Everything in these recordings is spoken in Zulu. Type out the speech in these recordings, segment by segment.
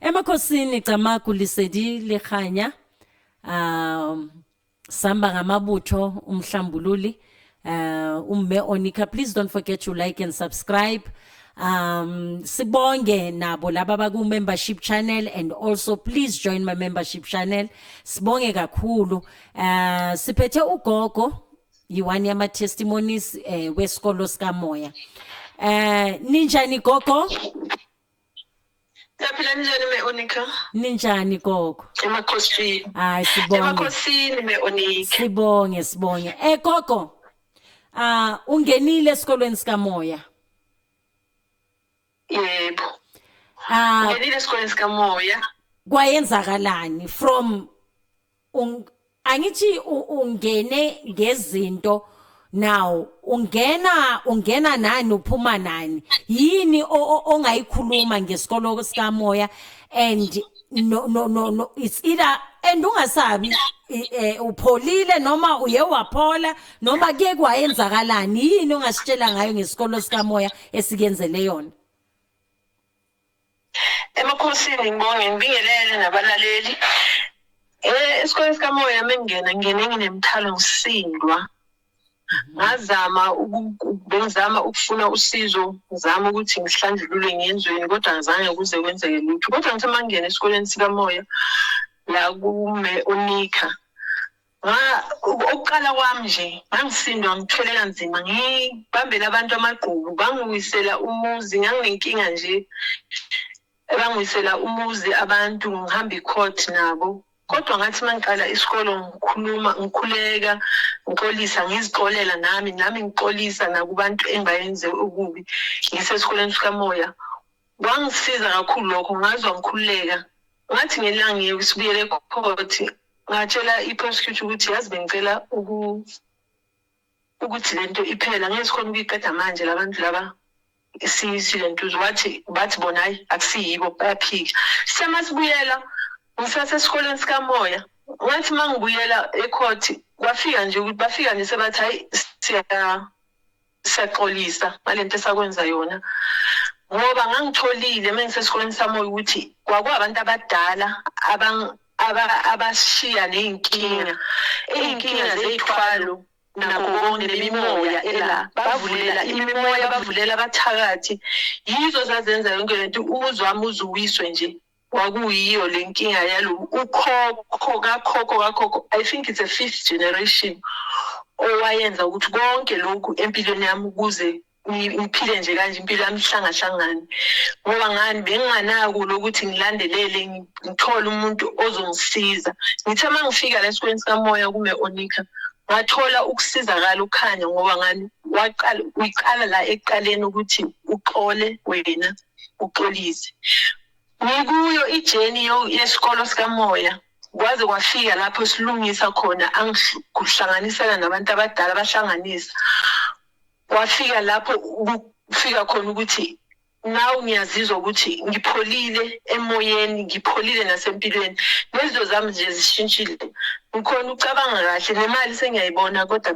Emakhosini Camagu Lisedi Lekganya um samba ngamabutho umhlambululi uh umme Onika please don't forget to like and subscribe um sibonge nabo laba baku membership channel and also please join my membership channel sibonge kakhulu uh siphethe ugogo yiwani yama testimonies eh wesikolo sikamoya eh ninjani gogo Siyaphila njani me Onika? Ninjani gogo? Emakhosini. Hayi sibonge. Emakhosini me Onika. Sibonge sibonge. Eh gogo. Ah ungenile esikolweni sikamoya. Yebo. Ah ungenile esikolweni sikamoya. Kwayenzakalani from angithi ungene ngezinto now ungena ungena nani uphuma nani yini ongayikhuluma ngesikolo sikamoya and no no no, no it's either and ungasabi eh, upholile noma uye waphola noma kuye kwayenzakalani yini ongasitshela ngayo ngesikolo sikamoya esikenzele yona emakhosini ngibonge ngibingelele nabalaleli eh esikoleni sikamoya mengena ngene nginemthalo ngisindwa ngazama bengizama ukufuna usizo ngizama ukuthi ngihlanjulule ngiyenzweni kodwa ngizange kuze kwenzeke lutho kodwa ngithe mangena esikoleni sikamoya la kume unika Nga ukuqala kwami nje ngangisindwa ngithwele kanzima ngibambela abantu amagqubu bangiwisela umuzi nganginenkinga nje bangiwisela umuzi abantu ngihamba i-court nabo kodwa ngathi uma ngiqala isikolo ngikhuluma ngikhuleka ngixolisa ngizixolela nami nami ngixolisa nakubantu engibayenze okubi ngisesikoleni sikamoya Kwangisiza kakhulu lokho ngazwa ngikhululeka. Ngathi ngelanga ngiye sibuyele ecourt ngatshela i-prosecutor ukuthi yazi bengicela uku ukuthi lento iphela ngeke sikhona ukuyiqeda manje labantu laba silentuzo wathi bathi bona hayi akusiyibo bayaphika sema sibuyela ngisase esikoleni sikamoya ngathi uma ngibuyela ecourt kwafika nje ukuthi bafika nje sebathi hayi siya siyaxolisa ngale nto esakwenza yona ngoba ngangitholile uma ngisesikoleni sami ukuthi kwakuwabantu abadala abashiya ney'nkinga iy'nkinga zey'thwalo nakho konke nemimoya ela bavulela imimoya bavulela abathakathi yizo zazenza yonke le nto umuzwami uzuwiswe nje kwakuyiyo le nkinga yalo ukhokho kakhokho kakhokho i think it's a fifth generation owayenza ukuthi konke lokhu empilweni yami ukuze ngiphile nje kanje impilo yami ihlangahlangane ngoba ngani benginganako lokuthi ngilandelele ngithole umuntu ozongisiza ngithe uma ngifika la esikoleni sikamoya kume onika ngathola ukusizakala ukukhanya ngoba ngani waqala uyiqala la ekuqaleni ukuthi uxole wena uxolise ngikuyo ijeni yesikolo sikamoya kwaze kwafika lapho silungisa khona angihlanganisela nabantu abadala bahlanganisa kwafika lapho kufika khona ukuthi nawe ngiyazizwa ukuthi ngipholile emoyeni ngipholile nasempilweni nezinto zami nje zishintshile ngikhona ucabanga kahle nemali sengiyayibona kodwa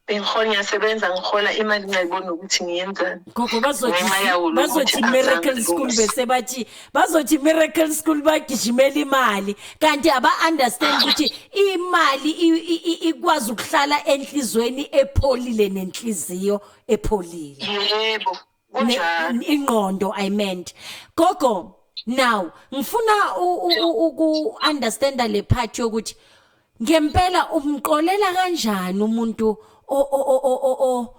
Bengihola ngiyasebenza ngihola imali ngayibona ukuthi ngiyenzani. Gogo bazothi Ngenxa yawo lo bazothi ukuthi miracle azange school lose. bese bathi bazothi miracle school bagijimela imali kanti aba understand ukuthi imali i- i- i- ikwazi ukuhlala enhlizweni epholile nenhliziyo epholile. Yebo. Kunjalo. ingqondo i meant gogo now ngifuna uku understand le part yokuthi ngempela umqolela kanjani umuntu o o o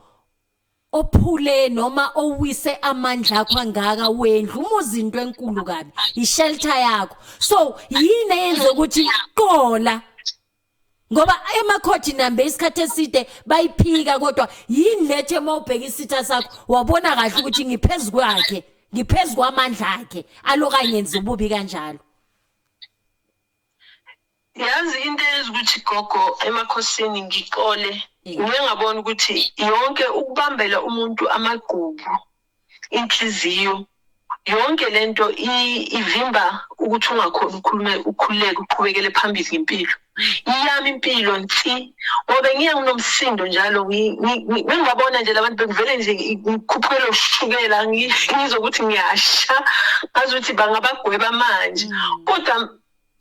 ophule noma owise amandla akho angaka wendlu umuzi into enkulu kabi ishelter yakho so yini eyenza ukuthi qola ngoba emakhothi nambe isikhathi eside bayiphika kodwa yini lethe uma ubheka isitha sakho wabona kahle ukuthi ngiphezu kwakhe ngiphezu kwamandla akhe aloka ngenza ububi kanjalo yazi into eyenza ukuthi gogo emakhosini ngixole ngingabona ukuthi yonke ukubambela umuntu amagqubu inhliziyo yonke lento ivimba ukuthi ungakhona ukhulume ukhululeke uqhubekele phambili ngempilo iyami impilo nsi ngobe ngiye nginomsindo njalo ngingabona nje labantu bekuvele nje ngikhuphukele ushukela ngizwe ukuthi ngiyasha ngazi ukuthi bangabagweba manje mm. kodwa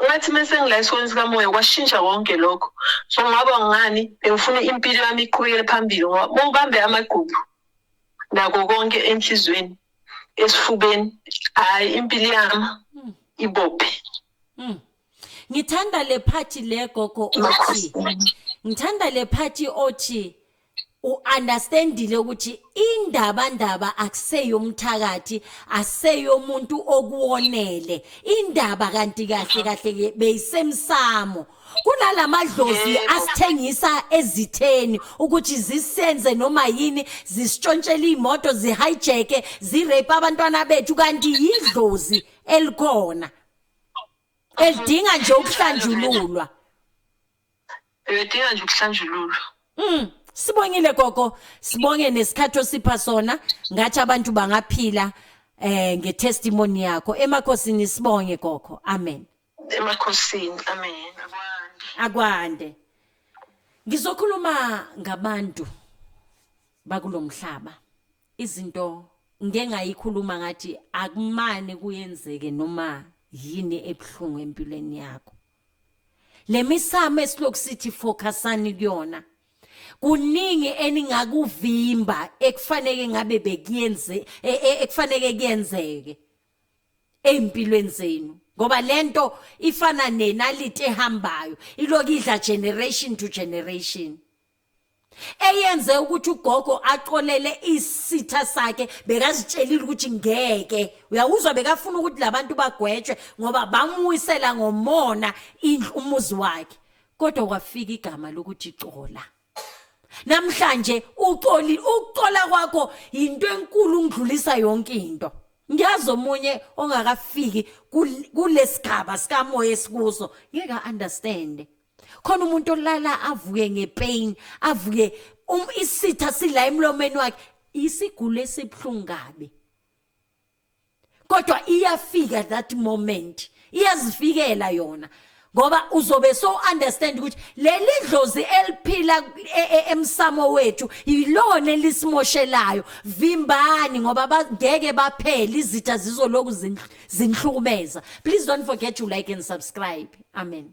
ngathi mase ngila esikoleni sikamoya kwashintsha konke lokho so ngaba ngani bengifuna impilo yami iqhubekele phambili ngoba ubambe amagqubu nako konke enhlizweni esifubeni hayi impilo yami hmm. ibophe hmm. ngithanda le phathi le gogo othi ngithanda le phathi othi uunderstandile ukuthi indaba ndaba akuseyomthakathi aseyomuntu okuwonele indaba kanti kahle kahle beyisemsamo kunalamadlozi Yebo. asithengisa ezitheni ukuthi zisenze noma yini zisitshontshele imoto zihijacke zirape abantwana bethu kanti yidlozi elikhona elidinga nje ukuhlanjululwa Uyadinga nje ukuhlanjululwa. Mm, sibongile gogo, sibonge nesikhathi osipha sona, ngathi abantu bangaphila eh ngetestimony yakho. Emakhosini sibonge gogo. Amen. emakhosini amen akwande akwande ngizokhuluma ngabantu bakulomhlaba izinto ngengayikhuluma ngathi akumane kuyenzeke noma yini ebuhlungu empilweni yakho lemisamo esilokhu sithi focusani kuyona kuningi eningakuvimba ekufanele ngabe bekuyenze e, e, ekufanele kuyenzeke ezimpilweni zenu ngoba lento ifana nenalite ehambayo iloku idla generation to generation eyenze ukuthi ugogo axolele isitha sakhe bekazitshelile ukuthi ngeke uyawuzwa bekafuna ukuthi labantu bagwetshwe ngoba bamwisela ngomona indlu umuzi wakhe kodwa kwafika igama lokuthi xola namhlanje uxoli ukuxola kwakho yinto enkulu ngidlulisa yonke into ngiyazi omunye ongakafiki kulesigaba sikamoya esikuso ngeke understand khona umuntu olala avuke ngepain avuke um isitha sila emlomeni wakhe isigulo esibuhlungu kabi kodwa iyafika that moment iyazifikela yona ngoba uzobe so understand ukuthi leli dlozi eliphila e, e, emsamo wethu yilona elisimoshelayo vimbani ngoba bangeke baphele izitha zizoloku zinhlumeza please don't forget to like and subscribe amen